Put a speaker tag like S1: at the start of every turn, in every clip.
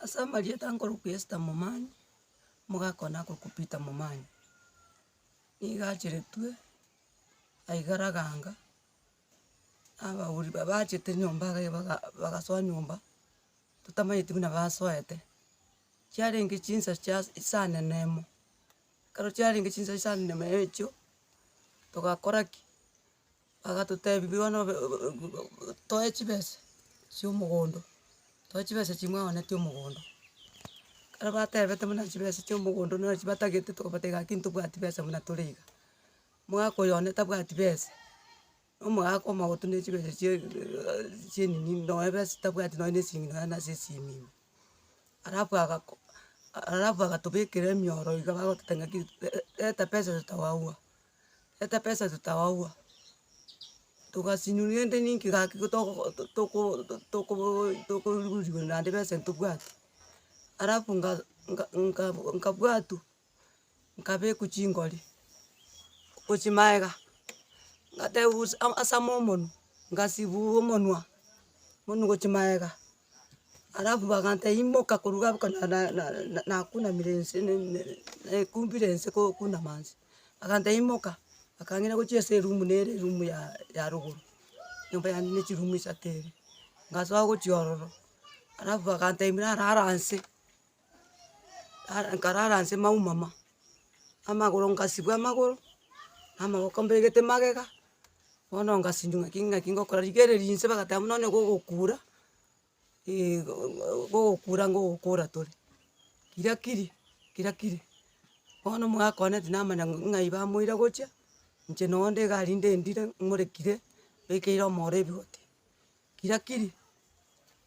S1: Ase amarieta nkorokwa Esther Momanyi, omogaka one akorokwa Peter Momanyi, nigo acheretwe aye Karaganga, abagori ba- bachete nyomba iga iga baga bagasoa nyomba, totamanyeti buna basoete, chiarenge chinsa chia saa nene emo, ekero chiarenge chinsa chinsa nene emo echio, togakora ki. Bagatotebi bono be- be- be- be toe chibesa chia omogondo, toe chibesa chia mwaoneti omogondo, ekero batebete buna chibesa chia omogondo nonye chibatagete tokobatebia gaki ntobwati besa buna tore iga, omogaka oyo one tabwati besa, na omogaka omogotu na chibesa chia chia enini nonye besa tabwati nonye na esimi nonye nase esimimi. Alafu agako a- alafu agatobekera emioro iga bagototebia ng'aki re- reta pesa iga totago agwo. Reta pesa totabagwa, togasinywa rende ninki gaki toko toko toko tokorusiwa naende pesa eria tobwate. Alafu nga nga nga nkabwatu, nkabekwa chingori, gochia magega, ngateba bosi ama asama omonwe, ngasibua omonwa, omonwa gochia magega, alafu bagantebia imoka korwa abwo ka na- na- na- nakunamire inse ne- ne- nekumbire inse ko- kunama inse. Agantebia imoka, akangina gochia ase eroom nere eroom ya ya rogoro, nyomba yane ne chiroom isato ere, ngasoa gochia ororo, alafu agantebia narara inse, ara nkarara inse maumama, amagoro ngasibwa amagoro, na amaboko mbegete magega, bono ngasinywa ng'aki ng'aki ngokora, rigereria inse bagateba buna onye gogokura. gogokura ngogokora tore, kira kiri, kira kiri, bono mwakwana tinamanya ng'a ng'ai bamoira gochia, inche noo nde iga rinde ndire morekire, bekeire omoro ebigoti, kira kiri,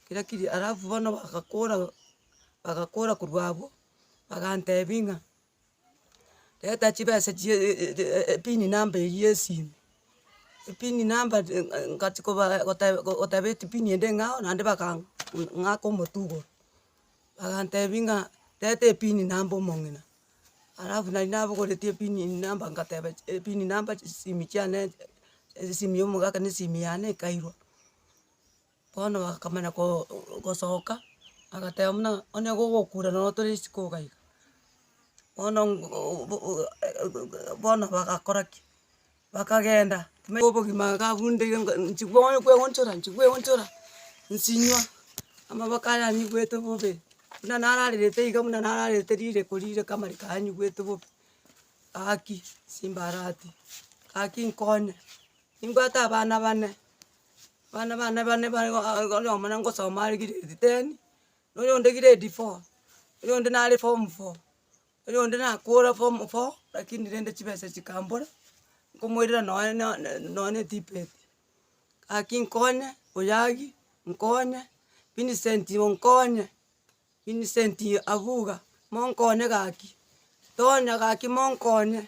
S1: kira kiri alafu bono bagakora, bagakora korwa abwo, bagantebia ng'a. Reta chibesa chie e- e- e- e- epini namba eywo yesimi, epini namba ri- e- e- ngachia koba gote go- goteba etipini ende ng'ao naende baka ng'aka omotugoro, bagantebia ng'a teta epini namba omong'ina, alafu nari nabogoretie epini eye namba ngateba chi epini namba chisimi chiane esimi ya omogaka na esimi yane ekairwa. Bono akamanya koo gosoka, agateba buna onye gogokura nonye tore isiko iga iga, bono bono bagakora ki? Bakagenda na obogima iga abundeire ngo inche bono kweonchora inche kweonchora, nsinywa, amaboko aya anyigwete bobe, buna nararerete iga buna nararerete rireko rireko amariko aya anyigwete bobe, gaki simbarati, gaki nkonye, nimbwate abana bane. Abana bane bane bare igo aa igo oyomo na ngosoma are grade ten, na oyonde grade four, oyonde nare form four, oyonde nakora form four rakini rende chibesa chikambora, nkomoirera nonye na ne nonye na etipeti, gaki nkonye, oyagi, nkonye, Vincent igo nkonye, Vincent abuga, monkonye gaki, Tonya gaki monkonye.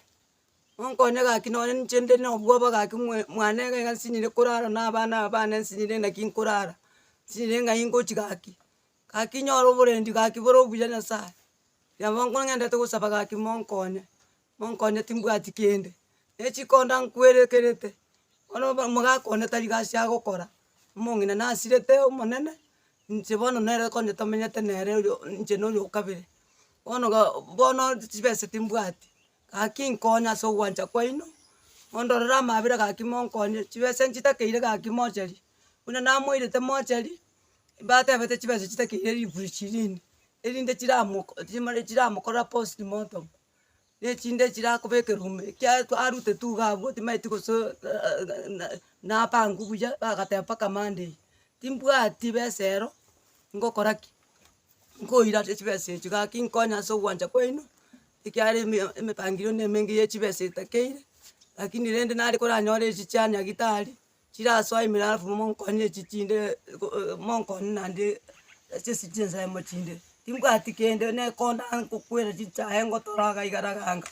S1: Monkonye gaki nonye ninche inde nobwoba gaki mwe mwane iga iga nsinyire korara na abana aba bane nsinyire naki nkorara, nsinyire ng'a ingochi gaki. Gaki nyore oborendi gaki bore obuya nyasaye, kinya bono ng'endete gosaba gaki monkonye, monkonye timbwati kende, ne chikonda nkwerekerete, bono obo omogaka one tari gasi agokora, omong'ina nasirete omonene, inche bono nere konye tomenyete nere oyo inche noyo okabere, bono ga bono chibesa timbwati, Gaki nkonye ase ogwancha kwaino, mondorere amaabera gaki monkonye, chibesa nchitakeire gaki mochari, buna namoirete mochari, mbatebete chibesa chitakeire elfu ishirini, erinde chiramoko chimore chiramokorera post mortem, na echinde chirakobeka erume ekia aru arute tu iga abwo timanyeti goso napangwa buya bagateba mpaka monday, timbwati besa ero, ngokora ki? Nkoira chibesa echio gaki nkonye ase ogwancha kwaino. ekiagera eme emepangirwe ne emenge ye chibesa etakeire, rakini rende nare koranyore echi chia nyagitari, chirasoa imera alafu monkonyie echi chinde go- o- monkonyie naende ase esi chinsemo chinde, timbwati kende nekonda nkokwera chichae ngotora iga iga raganga,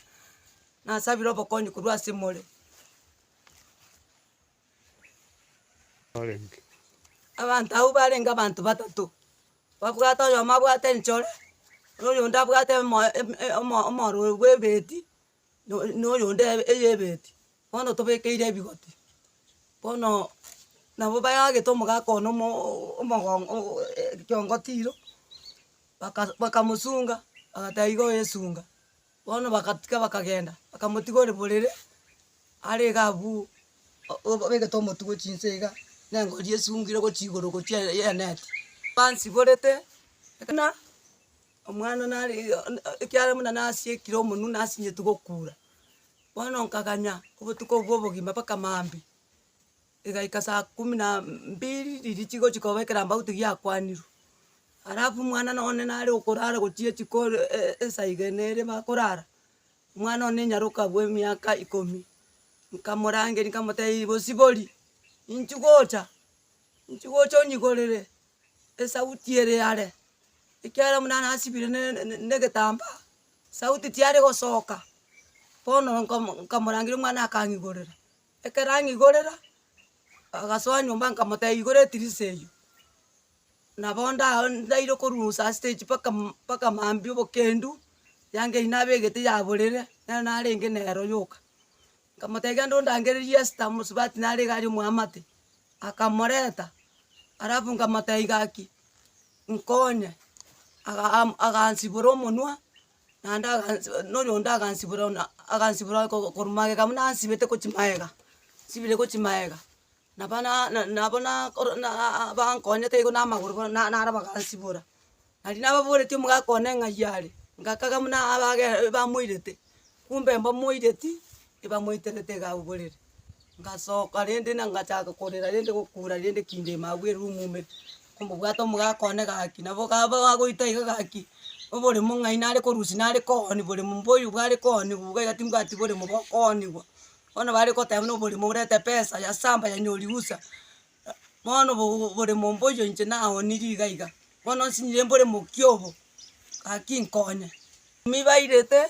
S1: nasabire obokonyi korwa ase more. Abanto abwo barenge abanto batato, babwate oyomo abwate enchore, oyonde abwate omoyo em- em- omo- omororo bw'ebeti, no noyonde eye eyebeti, bono tobekeire ebigoti, bono nabo bayagete omogaka one omo omogongo o- e- ekiongo tiro, baka bakamosunga, bagateba iga oyesunga. Bono bagatika bakagenda, bakamotiga ore borere, are iga abwo o- obegete omotu gochia inse iga, na engori esungire gochia igoro gochia e- eneti, bansiborete buna omwana nare iga o- o- ekiagera buna nasiekire omonwe nasinyeti gokura. Bono nkaganya obotuko obwo obogima mpaka maambia. Rigaika saa kumi na mbiri riria chigochi koba ekerambe auti giakwanirwe, alafu omwana nonye nare okorara gochia chiko e- e- esaa iga na ere bakorara, omwana one nyaroka bwa emiaka ikomi, nkamorangeria nkamotebia bosibori, inchi gocha, inchi gocha onyigorere esauti ere yare, ekiagera buna nasibire ne- ne- negetambaa, sauti tiyari gosoka, bono nkomo nkamorangeria omwana akang'igorera. Ekero ang'igorera, agasoa nyomba nkamotebia, igora etirisa eyio, nabo onde ago ndaire korwa saasitichi mpaka mpaka maambia obokendu, yanga eyio nabegete yaborire, nero narenge nero yoka. Nkamotebia genda ondangererie Esther omosubati nare iga aria omoamate, akamoreta, alafu nkamotebia gaki, nkonye, aga- am- agansibora omonwa, naende agansi nonya onde agansibora buna agansibora ko- korwa magega buna ansibete gochi maega, nsibire gochi maega, naba na- na nabo na koro na aa bankonyete igo na amagoro bono na naro bagansibora. Naria nababoretie omogaka one ng'ai are, ngakaga buna abage bamoirete, kumbe mbamoireti, ebamoiterete iga abogorere. ngasoka rende na ngachaka korera rende gokura rende kindima agwo erumu ime, komobwata omogaka one gaki, nabo kaba bagoita iga gaki, oboremo ng'ai nare korusia nare kooni bore momba oyo bware kooniwa iga iga timbwati boremo bokooniwa, bono bare goteba buna oboremo orete pesa ya samba yanyori usa, bono obo obore momba oyo inche naoniri iga iga, bono nsinyire mbore mokia obo, gaki nkonye. Ime bairete.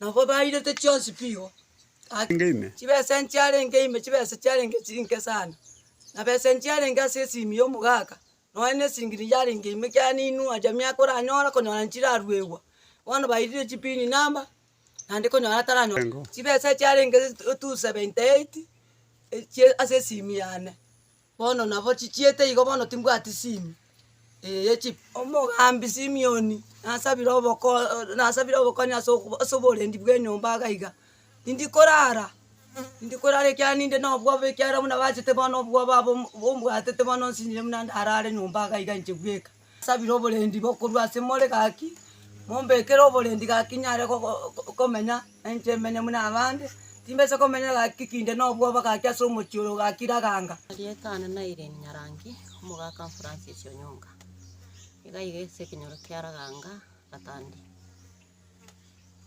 S1: Nabo bairete chionsi pigo, ake. Arenge ime.
S2: Chibesa enchiarenge
S1: ime, chibesa chiarenge chiri nke sana. Na besa enchiarenge ase esimi y'omogaka, nonya ne esiringi ne yarenge ime ekiagera ninua aria miaka oranyore konyora nchiraruegwa. Bono bairire chipin number, naende konyora ataranyora. Arengo. Chibesa echiarenge th- two seventy eight, echie ase esimi yane. Bono nabo chichiete igo bono timbwati simi, eh ye chifu. Omogambi Simioni nasabire oboko- o nasabire obokonyi ase okobo ase oborendi bw'enyomba iga iga, tindi korara, tindi korara ekiagera ninde na obwoba ekiagera buna bachete bono obwoba obo ombwatete bono nsinyire buna ndarare nyomba iga iga inche bweka. Sabire oborendi bokorwa ase more gaki, mombekere oborendi gaki nyare gogo komenya nainche menye buna abande, timbesa komenya gaki kinde na obwoba gaki ase omochie oro gaki raganga. Erieta ane na Irene
S3: Nyarangi, omogaka Francis Onyonga. Iga iga ase ekenyoro kia Raganga Gatandi.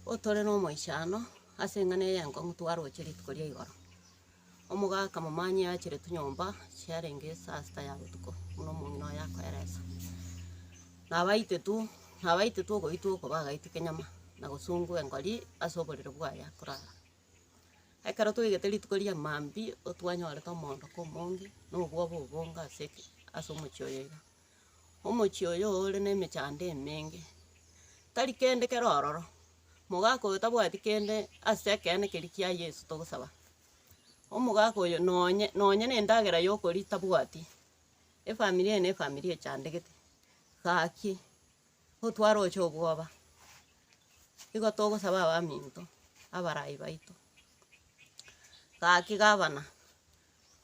S3: Otore na omoichano ase eng'ana eye enkong'u twaroche rituko ria igoro. Omoga akamomanyia aachere tonyomba chiarenge esaa sita ya botuko, buna omong'ina oye akoeresa. Nabaitetu, nabaitetu ogoitwa oko bagaite kenyama, na gosungwa engori ase oborere bwaye akorara. Ekero toigete rituko ria maambia, otwanyorete omoondoko omonge, na obwoba obonge ase eke, ase omochie oyo iga. Omochie oyo ore nemechando emenge, tari kende kere ororo, mogaka oyo tabwati kende ase ekeene keria kia Yeso togosaba. Omogaka oyo nonye, nonye na endagera ya okoria tabwati, efamiri eye na efamiri echandegete, gaki otware oche obwoba, igo togosaba abaminto, abarai baito. Gaki gavana,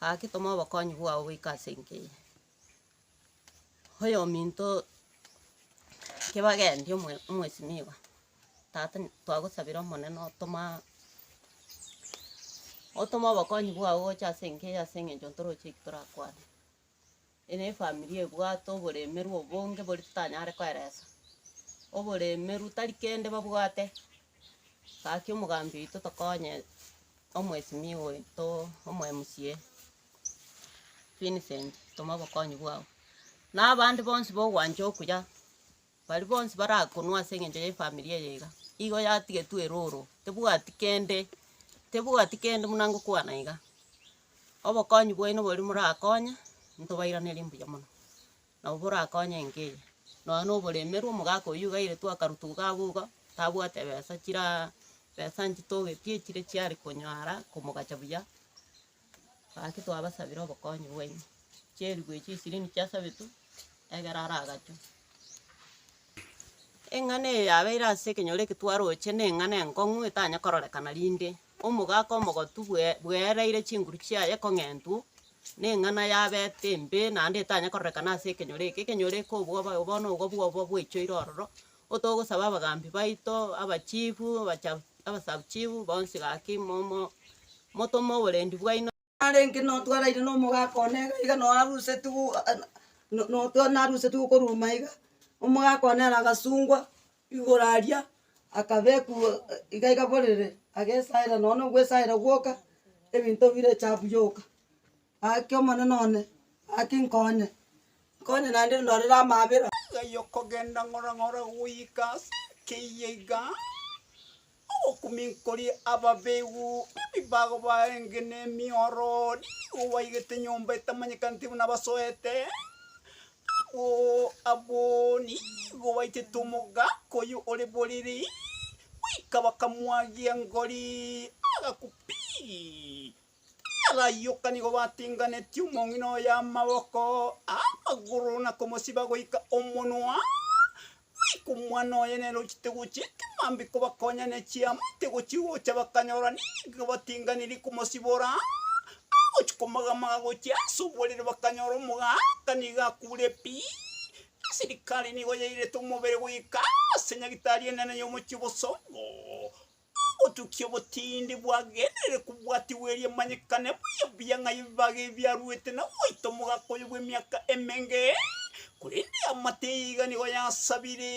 S3: gaki toma obokonyi bwao goika ase enka eye. Oyominto kebagendia omo omwesinigwa, tata twagosabera omonene otoma otoma obokonyi bwao gocha ase enka eye ase eng'encho ntoroche eki torakwane. Ere efamiri ebwate oboremeru obonge bori totanyare koeresa, oboremeru tari kende babwate, gaki omogambi oito tokonye omwesinigwa oito, omo mca. Vincent, toma obokonyi bwao. Na abande bonsi bogwancha okuya, baria bonsi barakonwe ase eng'encho ye family eye iga, igo yatigetwe eroro, tebwati kende, tebwati kende buna ngokwana iga. Obokonyi bwaino boria morakonye, ntobairanerie mbuya mono, nabo borakonye enka eye. Nonya na oboremerwe, omogaka oyio gairetwe akarutwa iga abwo iga, tabwate ebesa chiraa, ebesa nchitogetie chire chiare konyara komogacha buya. Gaki twabasabera obokonyi bwaino. Chierigwa echio chisirini chiasabetwe, egere ara agachwe. Eng'ana eye yabeire ase ekenyoro eke twaroche neng'ana enkong'u etanye kororekana rinde omogaka omogotu bwe- bweereire chinguru chiaye ekong'entu, neng'ana yabete embe naende etanye kororekana ase ekenyoro eke. Ekenyoro eke obwoba bono igo bwoba bwaichoire ororo, Ko togosaba abagaambi baito, abachifu, abasabuchifu, bonsi gaki, momo, motome oborendi bwaino. Narenge notwaraire
S1: nomogaka one iga, iga noarusetigwe notwa narusetigwe korwa ime iga, omogaka one ere agasungwa igoro aria, akabekwa iga iga borere, agesaera nonye na ogwesaera gwoka, ebinto bire echafu yoka. Gaki, Omonene one, gaki nkonye, nkonye naende ndorere amaabera. Gai okogenda
S2: ng'ora ng'ora goika ase ekeyia iga, ogokuminkoria ababegu b'ebibago baenge na emiorori, nigo baigete nyomba etamanyekaneti buna basoete, abwo abwo nigo baichete omogaka oyio ore boriri, goika bakamwagia engori, agaku pii. Abayoka nigo batinganetie omong'ina oye amaboko, amagoro, na komosiba goika omonwa, goika omwana oye nere ochete gochia ekemambia kobakonya ne chiama ete gochia gocha bakanyora nigo batinganirie komosibora, agochia komagamaga gochia ase oborere bakanyora omogaka nigo akure pi, esirikari nigo yairete omobere goika ase nyagitari enene y'omochie bosongo. Obotukia obotindi bwagenderire kobwatigwa erio emanyekane buya buya ng'a ebibaga ebi biaruete na goita omogaka oyo bw'emiaka emenge. Korende amato eye iga nigo yasabire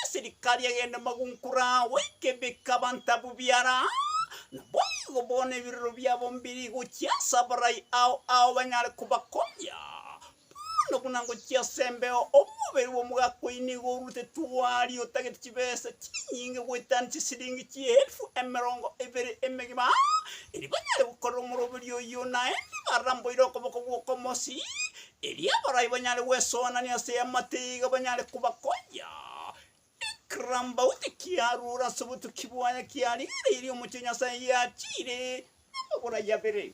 S2: eserikari egende magunkore agwo ekebeke abanto abwo biara. Naboigo bono ebirero biabo mbiri gochia ase abarai ao ao banyare kobakonya. Bono buna ngochia ase embeo, omobere bw'omogakoyi nigo orutetwe aria otagete chibesa chinyinge goetania chisiringi chi'eelfu emerongo ebere emegima, erio banyare gokorera omoroberio oyio, naende baramboire okoboko gw'okomosi, erio abarai banyare gwesoanania ase amatiga banyare kobakonya. Ekirambauti kiarure ase obotuki bwaye kiaring'aririe omochie o Nyasae yachiire amaborai abere.